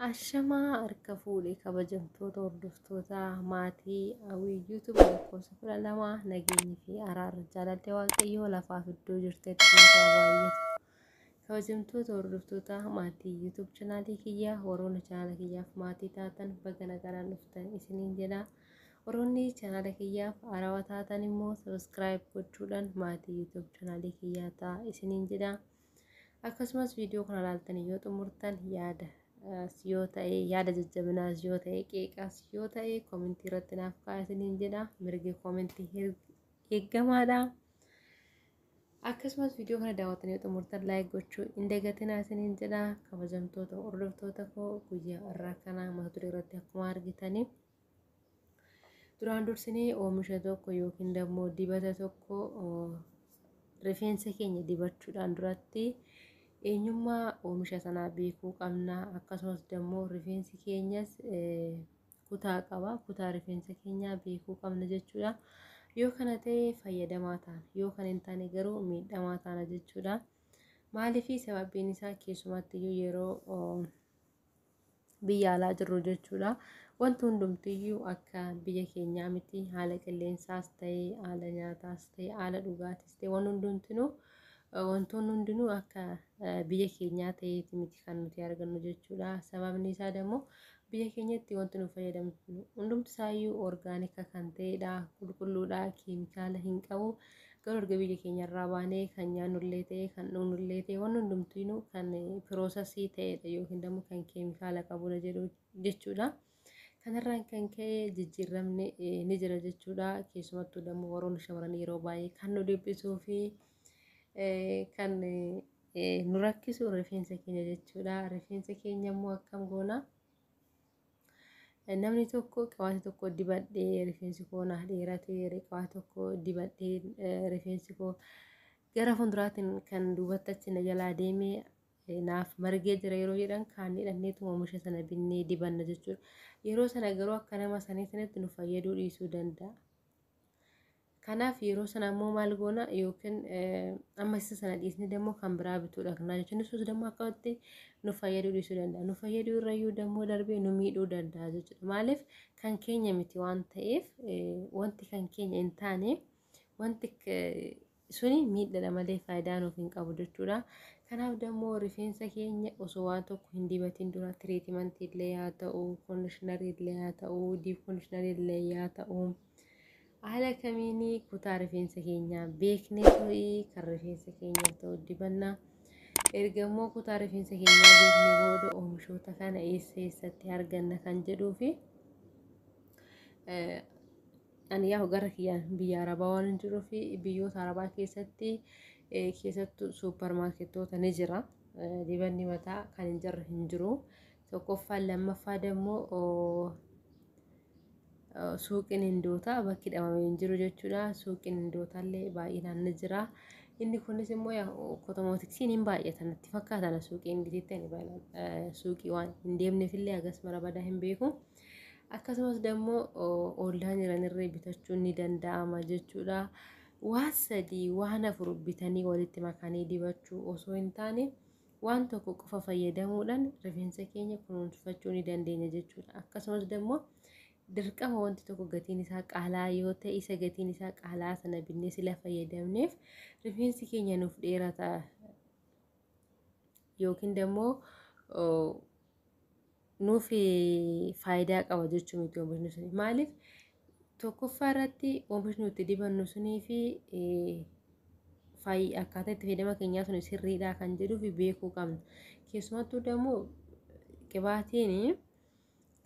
Ashamaa harka fuudhe kabajamtoota hordoftoota maatii hawwii yuutuub lakkoofsa kudha lama nageenyi fi araarri jaalalli waaqayyoo lafaaf iddoo jirtetti nuuf haa baay'atu. Kabajamtoota hordoftoota maatii YouTube chanaalii kiyyaa warroonni chanaala kiyyaaf maatii taatan baga nagaan dhuftan isiniin jedha. Warroonni chanaala kiyyaaf arawa taatan immoo subscribe gochuudhaan maatii YouTube chanaalii kiyyaa ta'a isiniin jedha. Akkasumas viidiyoo kana ilaaltanii yoo xumurtan yaada yoo ta'e yaada jajjabinaas yoo ta'e qeeqaas yoo ta'e koomentii irratti naaf kaa'aa isiniin jedha. Mirgi koomentii eeggamaadha. Akkasumas viidiyoo kana daawwatanii yoo xumurtan laayik gochuu hin dagatinaa isiniin jedha. Kabajamtoota hordoftoota koo guyyaa irraa kana mata duree irratti akkuma argitanii duraan dursinee oomisha tokko yookiin immoo dibata tokko rifeensa keenya dibachuudhaan duratti eenyummaa oomisha sanaa beekuu qabna. Akkasumas immoo rifeensi keenyas kutaa qaba kutaa rifeensa keenyaa beekuu qabna jechuudha yoo kana ta'e fayyadamaa taana yoo kan hin taane garuu miidhamaa taana jechuudha maaliifi sababiin isaa keessumatti iyyuu yeroo biyya alaa jirru jechuudha wanti hundumtiyyuu akka biyya keenyaa miti haala qilleensaas ta'e haala nyaataas ta'e haala dhugaatiis ta'e waan hundumtinuu wantoonni hundinuu akka biyya keenyaa ta'eeti miti kan nuti argannu jechuudha sababni isaa immoo Biyya keenyatti wanti nu fayyadamnu hundumti isaayyuu orgaanika kan ta'edha. Qulqulluudha, keemikaala hin qabu. Garuu erga biyya keenyarraa baanee kan nyaannullee ta'e, kan dhugnullee ta'e, wanni hundumtiinuu kan piroosasii ta'edha yookiin immoo kan keemikaala qabudha jedhu jechuudha. Kanarraan kan ka'e jijjiiramni eh, ni jira jechuudha. Keessumattuu immoo warroonni shamarranii yeroo baay'ee kan nu dhiphisuu fi eh, kan eh, nu rakkisu rifeensa keenya jechuudha. Rifeensa keenya immoo akkam goona? Namni tokko qabaata tokko dibadhee rifeensi koo naaf dheeratee qabaata tokko dibadhee rifeensi koo gara fuulduraatiin kan duubatti achi na jalaa deemee naaf margee jira yeroo jedhan kaan hidhanneetu oomisha sana binnee dibanna jechuudha. Yeroo sana garuu akka nama sanii sanatti nu fayyaduu dhiisuu danda'a. Kanaaf yeroo sana ammoo maal goona yookiin amma isa sana dhiisnee dammoo kan biraa bituu dhaqnaa jechuun ibsus dammoo akkamitti nu fayyaduu dhiisuu danda'a. Nu fayyaduu irrayyuu dammoo darbee nu miidhuu danda'a jechuudha. Maaliif kan keenya miti waan ta'eef wanti kan keenya hin taane wanti suni miidhadha malee faayidaa nuuf hin qabu jechuudha. Kanaaf dammoo rifeensa keenya osoo waan tokko hin dibatiin dura tiriitimantii illee yaa ta'u, koondishinarii illee yaa ta'u, diip koondishinarii illee yaa ta'u. Haala kamiin kutaa rifeensa keenyaa beeknee to'i kan rifeensa keenyaaf ta'u dibanna. Erga immoo kutaa rifeensa keenyaa beeknee booda oomishoota kana eessa eessatti arganna kan jedhuu fi ani yaa gara kiyyaan biyya arabaa waan hin jiruu fi biyyoota arabaa keessatti keessattuu suupparmaarkettoota ni jira. Dibanni mataa kan hin jirre hin jiru. tokkoffaan lammaffaa dammoo suuqiin hindootaa bakki dhamamee hin jiru jechuudha. Suuqiin hindootaallee baay'inaan ni jira. Inni kunis immoo kotomootiksiin hin baay'ata natti fakkaata suuqii ingiliitti ani baay'inaan suuqii waan hin deemneefillee hagas mara badaa hin beeku. Akkasumas dammoo oollaan jiranirree bitachuun ni danda'ama jechuudha. Waan sadii waan afur bitanii walitti makanii dibachuu osoo hin taane waan tokko qofa fayyadamuudhaan rifeensa keenya kunuunfachuu ni dandeenya jechuudha. Akkasumas immoo dirqama wanti tokko gatiin isaa qaalaa yoo ta'e isa gatiin isaa qaalaa sana binnee sila fayyadamneef rifeensi keenya nuuf dheerata yookiin immoo nuuf faayidaa qaba jechuu miti oomishni suni. Maaliif tokkoffaa irratti oomishni nuti dibannu sunii fi faayi akkaataa itti fayyadama keenyaa sun sirriidha kan jedhuu fi beekuu qabna. Keessumattuu immoo qibaatiin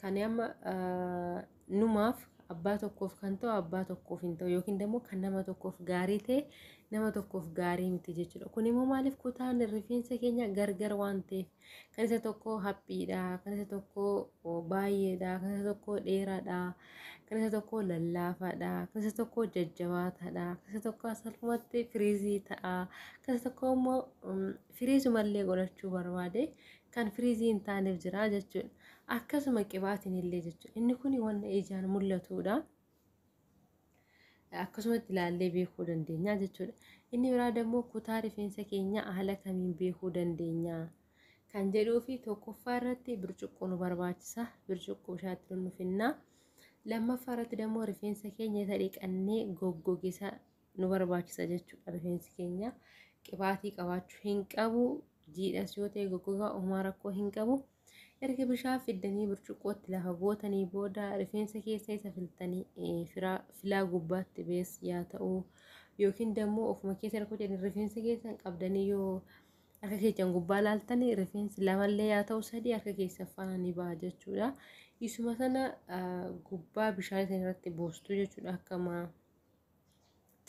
kan amma numaaf abbaa tokkoof kan ta'u abbaa tokkoof hin ta'u yookiin immoo kan nama tokkoof gaarii ta'e nama tokkoof gaarii miti jechuudha. Kun immoo maaliif kutaan rifeensa keenya gargar waan ta'eef kan isa tokko haphiidha, kan isa tokko baay'eedha, kan isa tokko dheeraadha, kan isa tokko lallaafaadha, kan isa tokko jajjabaataadha, kan isa tokko salphumatti firiizii ta'a, kan isa tokko immoo Firiizuma illee godhachuu barbaade kan firiizii hin taaneef jira jechuudha. Akkasuma qibaatiin illee jechuudha. Inni kun wanna ijaan mul'atuudha. Akkasumatti ilaallee beekuu dandeenya jechuudha. Inni biraa immoo kutaa rifeensa keenya haala kamiin beekuu dandeenya kan jedhuu fi tokkoffaa irratti bircuqqoo nu barbaachisa. Bircuqqoo bishaatti nu finna. Lammaffaa irratti immoo rifeensa keenya isa dhiqannee goggogisa nu barbaachisa jechuudha rifeensi keenya qibaatii qabaachuu hin qabu jiidhas yoo ta'e goggogaa uumaa rakkoo hin qabu erga bishaan fiddanii burcuqqootti lafa gootanii booda rifeensa keessa isa filtanii filaa gubbaatti bees yaa ta'u yookiin dammoo ofuma keessa rakkoo jedhan rifeensa keessan qabdanii yoo akka keessan gubbaa laaltanii rifeensi lamallee yaa ta'u sadii akka keessan faana ni baha jechuudha isuma sana gubbaa bishaan isin irratti buustu jechuudha akkama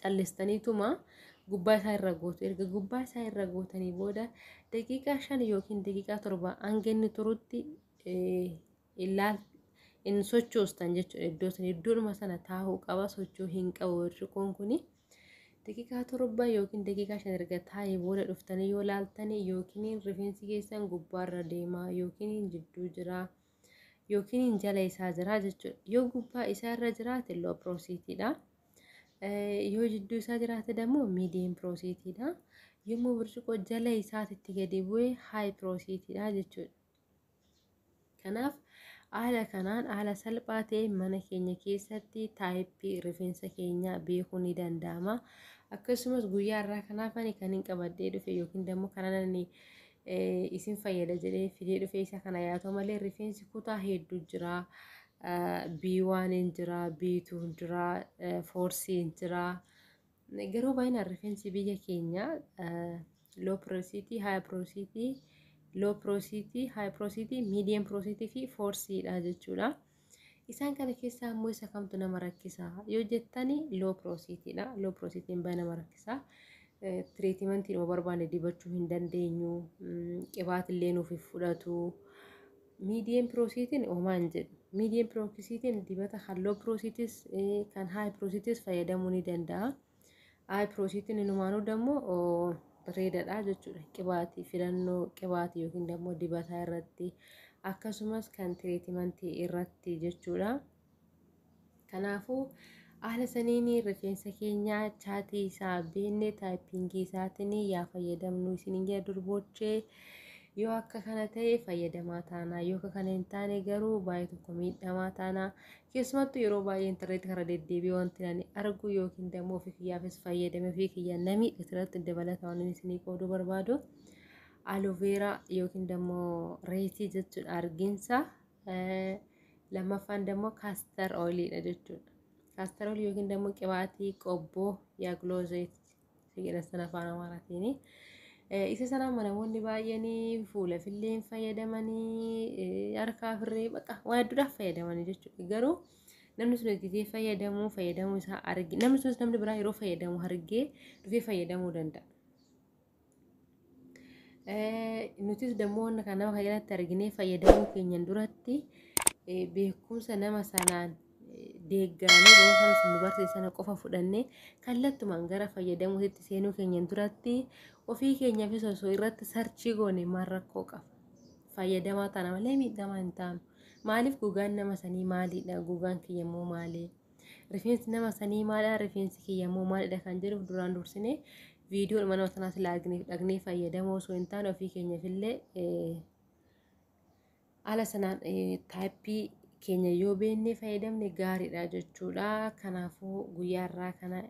callistaniituma gubbaa isaa irra gootu erga gubbaa isaa irra gootanii booda daqiiqaa shan yookiin daqiiqaa torba hanga inni turutti ilaal in sochoostan jechuudha iddoo sana iddoodhuma sana taa'uu qaba sochoo hin qabu birciqoon kuni daqiiqaa torba yookiin daqiiqaa shan erga taa'ee booda dhuftanii yoo laaltanii yookiin rifeensi keessan gubbaarra deemaa yookiin jidduu jiraa. yookiin jala isaa jira jechuudha. Yoo gubbaa isaa irra jiraate loo piroosiitiidha. Yoo jidduu isaa jiraate immoo miidiyeem piroosiitiidha. Yommuu burcuqqoo jala isaatitti gadi bu'ee haay piroosiitiidha jechuudha. Kanaaf haala kanaan haala salphaa ta'e mana keenya keessatti taayippii rifeensa keenyaa beekuu ni danda'ama. Akkasumas guyyaa irraa kanaaf ani kan hin qabadhee dhufe yookiin immoo kanan isin fayyada jedhee fidee dhufee isa kana yaatoo malee rifeensi kutaa hedduu jira. B1 hin jira, B2 hin jira, foorsii hin jira. Garuu baay'inaan rifeensi biyya keenya loo piroosiitii, haaya piroosiitii, loo piroosiitii, haaya piroosiitii, miidiyeem piroosiitii fi foorsiidha jechuudha. Isaan kana keessaa ammoo isa kamtu nama rakkisa yoo jettani loo piroosiitiidha. Loo piroosiitiin baay'ee nama rakkisa. Tiriitimantii nama barbaanne dibachuu hin dandeenyu. Qibaatillee nuuf hin fudhatu. Miidiyeen piroosiitiin homaa hin jedhu. Miidiyeen piroosiitiin dibata kan loo piroosiitis kan haay piroosiitis fayyadamuu ni danda'a. Ayi piroosiitiin inumaanuu dammoo bareedadha jechuudha. Qibaatii filannoo qibaatii yookiin dammoo dibataa irratti akkasumas kan tireetimantii irratti jechuudha. Kanaafuu haala saniin rifeensa keenya chaatii isaa beenne taayippingii isaatiin yaa fayyadamnu isiniin jedha durboochee yoo akka kana ta'e fayyadamaa taana yoo akka kana hin taane garuu baay'ee tokko miidhamaa taana Keessumattuu yeroo baay'ee intarneetii kana deddeebi'ee wanti ani arguu yookiin dammoo ofii kiyyaafis fayyadame ofii kiyyaa namii irratti dabalata waan isinii qooduu barbaadu aloveeraa yookiin dammoo reetii jechuudha argiinsa lammaffaan dammoo kaastar oiliidha jechuudha. Kaastar oilii yookiin dammoo qibaatii qobboo yaa giloozeetii Fiqirassan afaan Amaaraatiin. Isa sanaan namoonni baay'een fuula filleen fayyadamanii harkaa firree baqa waa hedduudhaaf fayyadamanii jechuudha. Garuu namni sun itti fayyadamuu fayyadamuu isaa argee namni sunis namni biraa yeroo fayyadamu argee dhufee fayyadamuu danda'a. Nutis dammoo wanna kana nama kanatti arginee fayyadamuu keenyan duratti beekumsa nama sanaan deeggaramee beekumsa sun nu barsiise sana qofa fudhannee kallattumaan gara fayyadamuutti seenuu keenyan duratti ofii keenyaafis osoo irratti sarchii goone maal rakkoo qaba. Fayyadamaa taana malee miidhamaa hin taanu. Maaliif gogaan nama sanii maalidha? Gogaan kiyya immoo maalii? Rifeensi nama sanii maadha rifeensi kiyya immoo maalidha kan jedhuuf duraan dursine viidiyoo dhuma nama sanaa silaa dhagnee fayyadamoo osoo hin taane ofii keenyaaf illee haala sanaan taayippii keenya yoo beennee fayyadamne gaariidha jechuudha. Kanaafuu guyyaa irraa kana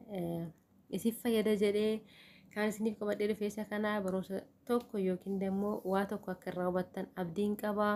isif fayyada jedhee kan isiniif qabadhee dhufeessa kana barumsa tokko yookiin immoo waa tokko akka irraa hubattan abdiin qabaa.